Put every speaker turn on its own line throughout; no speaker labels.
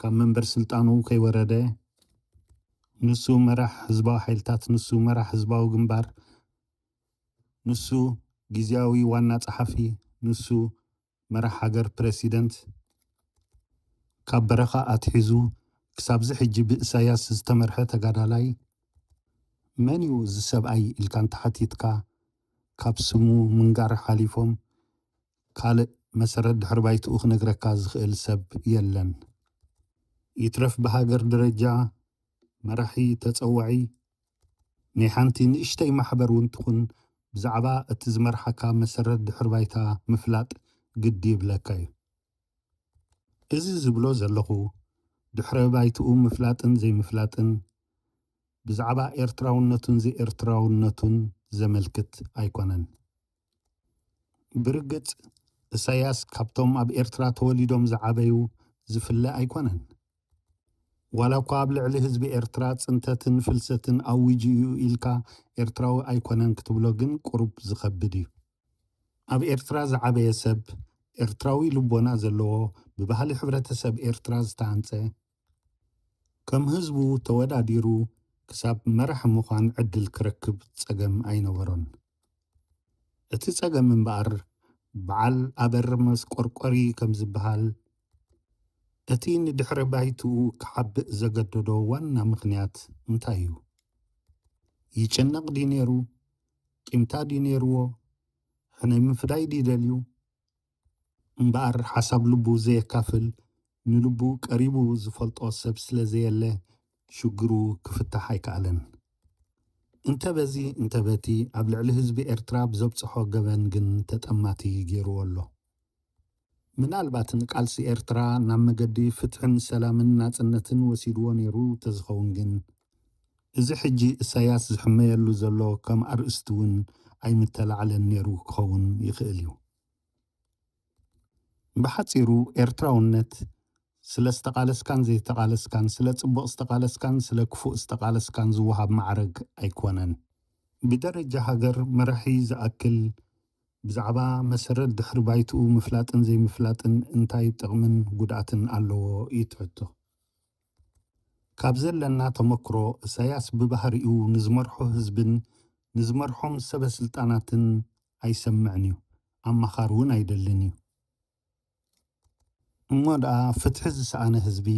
ካብ መንበር ስልጣኑ ከይወረደ ንሱ መራሕ ህዝባዊ ሓይልታት፣ ንሱ መራሕ ህዝባዊ ግንባር፣ ንሱ ግዝያዊ ዋና ጸሓፊ፣ ንሱ መራሕ ሃገር ፕረሲደንት፣ ካብ በረኻ ኣትሒዙ ክሳብ'ዚ ሕጂ ብእሳያስ ዝተመርሐ ተጋዳላይ፣ መን'ዩ እዚ ሰብኣይ ኢልካ እንተሓቲትካ ካብ ስሙ ምንጋር ሓሊፎም ካልእ መሰረት ድሕሪ ባይትኡ ክነግረካ ዝኽእል ሰብ የለን። ይትረፍ ብሃገር ደረጃ መራሒ ተጸዋዒ ናይ ሓንቲ ንእሽተይ ማሕበር ውን ትኹን ብዛዕባ እቲ ዝመርሓካ መሰረት ድሕሪ ባይታ ምፍላጥ ግዲ ይብለካ ዩ። እዚ ዝብሎ ዘለኹ ድሕረ ባይትኡ ምፍላጥን ዘይምፍላጥን ብዛዕባ ኤርትራውነቱን ዘይኤርትራውነቱን ዘመልክት ኣይኮነን። ብርግጽ እሳያስ ካብቶም ኣብ ኤርትራ ተወሊዶም ዝዓበዩ ዝፍለ ኣይኮነን። ዋላኳ ኣብ ልዕሊ ህዝቢ ኤርትራ ጽንተትን ፍልሰትን ኣዊጁ እዩ ኢልካ ኤርትራዊ ኣይኮነን ክትብሎ ግን ቁሩብ ዝኸብድ እዩ። ኣብ ኤርትራ ዝዓበየ ሰብ፣ ኤርትራዊ ልቦና ዘለዎ፣ ብባህሊ ሕብረተሰብ ኤርትራ ዝተሃንጸ፣ ከም ህዝቡ ተወዳዲሩ ክሳብ መራሒ ምዃን ዕድል ክረክብ ጸገም ኣይነበሮን። እቲ ጸገም እምበኣር በዓል ኣበር መስቆርቆሪ ከም ዝበሃል እቲ ንድሕረ ባይትኡ ክሓብእ ዘገደዶ ዋና ምኽንያት እንታይ እዩ? ይጭነቕ ድዩ ነይሩ? ቂምታ ድዩ ነይርዎ? ሕነ ምፍዳይ ድዩ ደልዩ? እምበኣር ሓሳብ ልቡ ዘየካፍል ንልቡ ቀሪቡ ዝፈልጦ ሰብ ስለ ዘየለ ሽግሩ ክፍታሕ ኣይከኣለን። እንተ በዚ እንተ በቲ ኣብ ልዕሊ ህዝቢ ኤርትራ ብዘብጸሖ ገበን ግን ተጠማቲ ገይሩዎ ኣሎ። ምናልባት ንቃልሲ ኤርትራ ናብ መገዲ ፍትሕን ሰላምን ናጽነትን ወሲዱዎ ነይሩ ተዝኸውን ግን እዚ ሕጂ እሳያስ ዝሕመየሉ ዘሎ ከም ኣርእስቲ እውን ኣይምተላዕለን ነይሩ ክኸውን ይኽእል እዩ። ብሓጺሩ ኤርትራውነት ስለ ዝተቓለስካን ዘይተቓለስካን፣ ስለ ጽቡቕ ዝተቓለስካን ስለ ክፉእ ዝተቓለስካን ዝወሃብ ማዕረግ ኣይኮነን። ብደረጃ ሃገር መራሒ ዝኣክል ብዛዕባ መሰረት ድሕሪ ባይትኡ ምፍላጥን ዘይምፍላጥን እንታይ ጥቕምን ጉድኣትን ኣለዎ ይትሕቶ። ካብ ዘለና ተመክሮ እሳያስ ብባህሪኡ ንዝመርሖ ህዝብን ንዝመርሖም ሰበ ስልጣናትን ኣይሰምዕን እዩ ኣማኻሪ ውን ኣይደልን እዩ። እሞ ድኣ ፍትሒ ዝሰኣነ ህዝቢ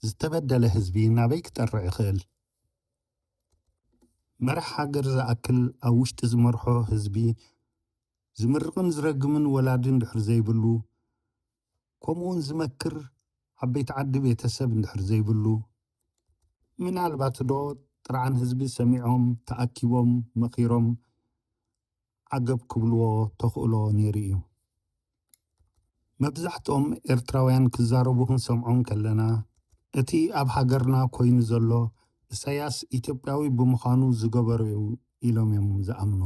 ዝተበደለ ህዝቢ ናበይ ክጠርዕ ይኽእል? መራሕ ሃገር ዝኣክል ኣብ ውሽጢ ዝመርሖ ህዝቢ ዝምርቕን ዝረግምን ወላዲ እንድሕር ዘይብሉ ከምኡውን ዝመክር ዓበይቲ ዓዲ ቤተ ሰብ እንድሕር ዘይብሉ፣ ምናልባት ዶ ጥርዓን ህዝቢ ሰሚዖም ተኣኪቦም መኺሮም ዓገብ ክብልዎ ተኽእሎ ነይሩ እዩ። መብዛሕትኦም ኤርትራውያን ክዛረቡ ክንሰምዖም ከለና፣ እቲ ኣብ ሃገርና ኮይኑ ዘሎ እሳያስ ኢትዮጵያዊ ብምዃኑ ዝገበሮ እዩ ኢሎም እዮም ዝኣምኑ።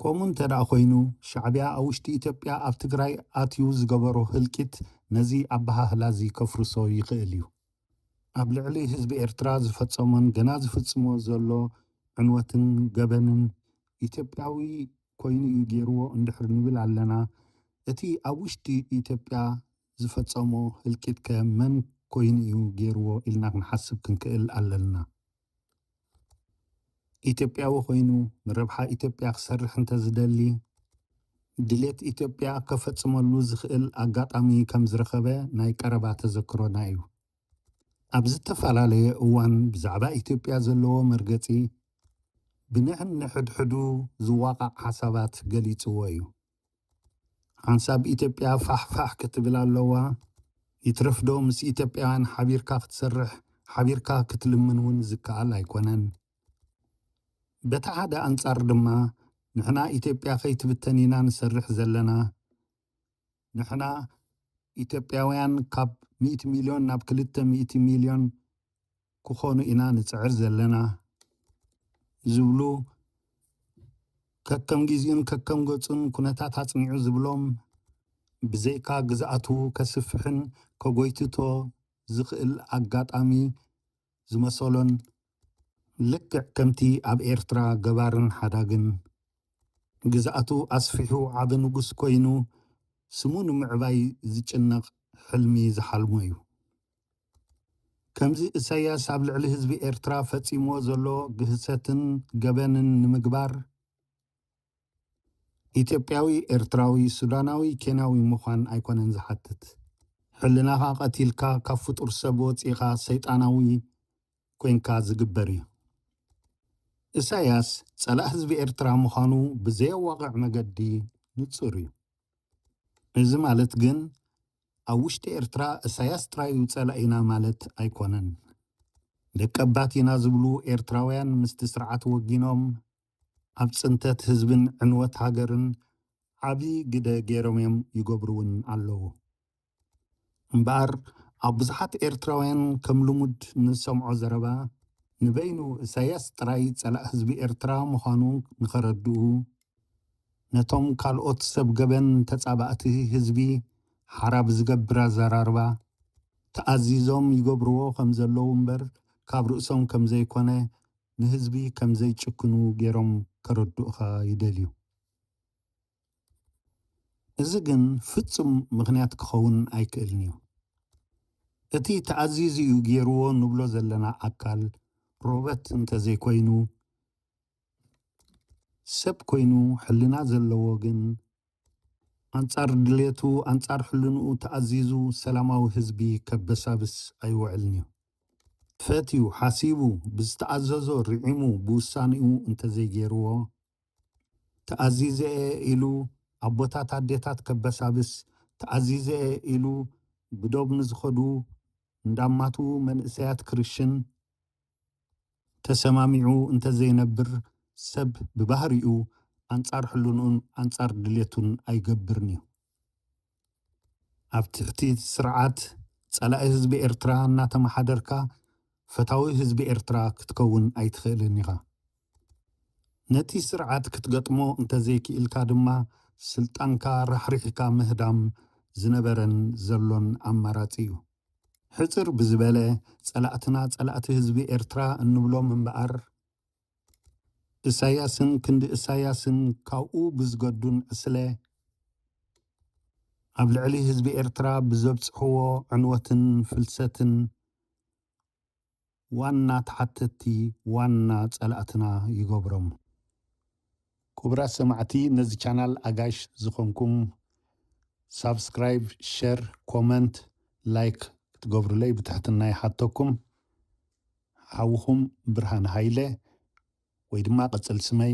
ከምኡ እንተ ኮይኑ ሻዕቢያ ኣብ ውሽጢ ኢትዮጵያ ኣብ ትግራይ ኣትዩ ዝገበሮ ህልቂት ነዚ ኣበሃህላ እዚ ከፍርሶ ይኽእል እዩ። ኣብ ልዕሊ ህዝቢ ኤርትራ ዝፈጸሞን ገና ዝፍጽሞ ዘሎ ዕንወትን ገበንን ኢትዮጵያዊ ኮይኑ እዩ ገይርዎ እንድሕሪ ንብል ኣለና፣ እቲ ኣብ ውሽጢ ኢትዮጵያ ዝፈጸሞ ህልቂትከ መን ኮይኑ እዩ ገይርዎ ኢልና ክንሓስብ ክንክእል ኣለና። ኢትዮጵያዊ ኮይኑ ንረብሓ ኢትዮጵያ ክሰርሕ እንተዝደሊ ድሌት ኢትዮጵያ ከፈፅመሉ ዝኽእል ኣጋጣሚ ከምዝረኸበ ናይ ቀረባ ተዘክሮና እዩ። ኣብ ዝተፈላለየ እዋን ብዛዕባ ኢትዮጵያ ዘለዎ መርገፂ ብንሕንሕድሕዱ ዝዋቓዕ ሓሳባት ገሊፅዎ እዩ። ሓንሳብ ኢትዮጵያ ፋሕ ፋሕ ክትብል ኣለዋ። ይትረፍዶ ምስ ኢትዮጵያውያን ሓቢርካ ክትሰርሕ፣ ሓቢርካ ክትልምን እውን ዝከኣል ኣይኮነን። በቲ ሓደ ኣንጻር ድማ ንሕና ኢትዮጵያ ከይትብተን ኢና ንሰርሕ ዘለና። ንሕና ኢትዮጵያውያን ካብ ሚእቲ ሚልዮን ናብ ክልተ ሚእቲ ሚልዮን ክኾኑ ኢና ንጽዕር ዘለና ዝብሉ ከከም ጊዚኡን ከከም ገጹን ኩነታት ኣጽኒዑ ዝብሎም ብዘይካ ግዝኣቱ ከስፍሕን ከጎይትቶ ዝኽእል ኣጋጣሚ ዝመሰሎን ልክዕ ከምቲ ኣብ ኤርትራ ገባርን ሓዳግን ግዝኣቱ ኣስፊሑ ዓቢ ንጉስ ኮይኑ ስሙ ንምዕባይ ዝጭነቕ ሕልሚ ዝሓልሞ'ዩ። ከምዚ እሰያስ ኣብ ልዕሊ ህዝቢ ኤርትራ ፈጺምዎ ዘሎ ግህሰትን ገበንን ንምግባር ኢትዮጵያዊ ኤርትራዊ ሱዳናዊ ኬንያዊ ምዃን ኣይኮነን ዝሓትት። ሕልናኻ ቀቲልካ ካብ ፍጡር ሰብ ወጺእኻ ሰይጣናዊ ኮንካ ዝግበር እዩ። እሰያስ ጸላእ ህዝቢ ኤርትራ ምዃኑ ብዘየዋቕዕ መገዲ ንጹር እዩ። እዚ ማለት ግን ኣብ ውሽጢ ኤርትራ እሳያስ ጥራዩ ጸላኢና ማለት ኣይኮነን። ደቀባት ኢና ዝብሉ ኤርትራውያን ምስቲ ስርዓት ወጊኖም ኣብ ጽንተት ህዝብን ዕንወት ሃገርን ዓቢ ግደ ገይሮምዮም ይገብሩውን ኣለዉ። እምበኣር ኣብ ብዙሓት ኤርትራውያን ከም ልሙድ ንሰምዖ ዘረባ ንበይኑ እሳያስ ጥራይ ጸላእ ህዝቢ ኤርትራ ምዃኑ ንኸረድኡ፣ ነቶም ካልኦት ሰብ ገበን ተጻባእቲ ህዝቢ ሓራ ብዝገብር ኣዘራርባ ተኣዚዞም ይገብርዎ ከም ዘለዉ እምበር ካብ ርእሶም ከም ዘይኮነ ንህዝቢ ከም ዘይጭክኑ ገይሮም ከረድኡኻ ይደልዩ። እዚ ግን ፍጹም ምኽንያት ክኸውን ኣይክእልን'ዩ። እቲ ተኣዚዙ'ዩ ገይርዎ ንብሎ ዘለና ኣካል ሮበት እንተ ዘይኮይኑ፣ ሰብ ኮይኑ ሕልና ዘለዎ ግን ኣንጻር ድሌቱ ኣንጻር ሕልንኡ ተኣዚዙ ሰላማዊ ህዝቢ ከበሳብስ ኣይውዕልን'ዩ። ፈትዩ ሓሲቡ ብዝተኣዘዞ ርዒሙ ብውሳኔኡ እንተዘይገይርዎ ተኣዚዘ'የ ኢሉ ኣቦታት ኣዴታት ከበሳብስ ተኣዚዘ'የ ኢሉ ብዶብ ንዝኸዱ እንዳማቱ መንእሰያት ክርሽን ተሰማሚዑ እንተዘይነብር ሰብ ብባህሪኡ ኣንጻር ሕልንኡን ኣንጻር ድሌቱን ኣይገብርን'ዩ። ኣብ ትሕቲ ስርዓት ጸላኢ ህዝቢ ኤርትራ እናተመሓደርካ ፈታዊ ህዝቢ ኤርትራ ክትከውን ኣይትኽእልን ኢኻ። ነቲ ስርዓት ክትገጥሞ እንተዘይክኢልካ ድማ ስልጣንካ ራሕሪሕካ ምህዳም ዝነበረን ዘሎን ኣማራጺ'ዩ። ሕጽር ብዝበለ ጸላእትና ጸላእቲ ህዝቢ ኤርትራ እንብሎም እምበኣር እሳያስን ክንዲ እሳያስን ካብኡ ብዝገዱን ዕስለ ኣብ ልዕሊ ህዝቢ ኤርትራ ብዘብጽሕዎ ዕንወትን ፍልሰትን ዋና ተሓተቲ ዋና ጸላእትና ይገብሮም። ኩቡራት ሰማዕቲ ነዚ ቻናል ኣጋሽ ዝኮንኩም ሳብስክራይብ ሸር ኮመንት ላይክ ክትገብሩለይ ብትሕትና ይሓተኩም ሓውኩም ብርሃነ ሃይለ ወይ ድማ ቅጽል ስመይ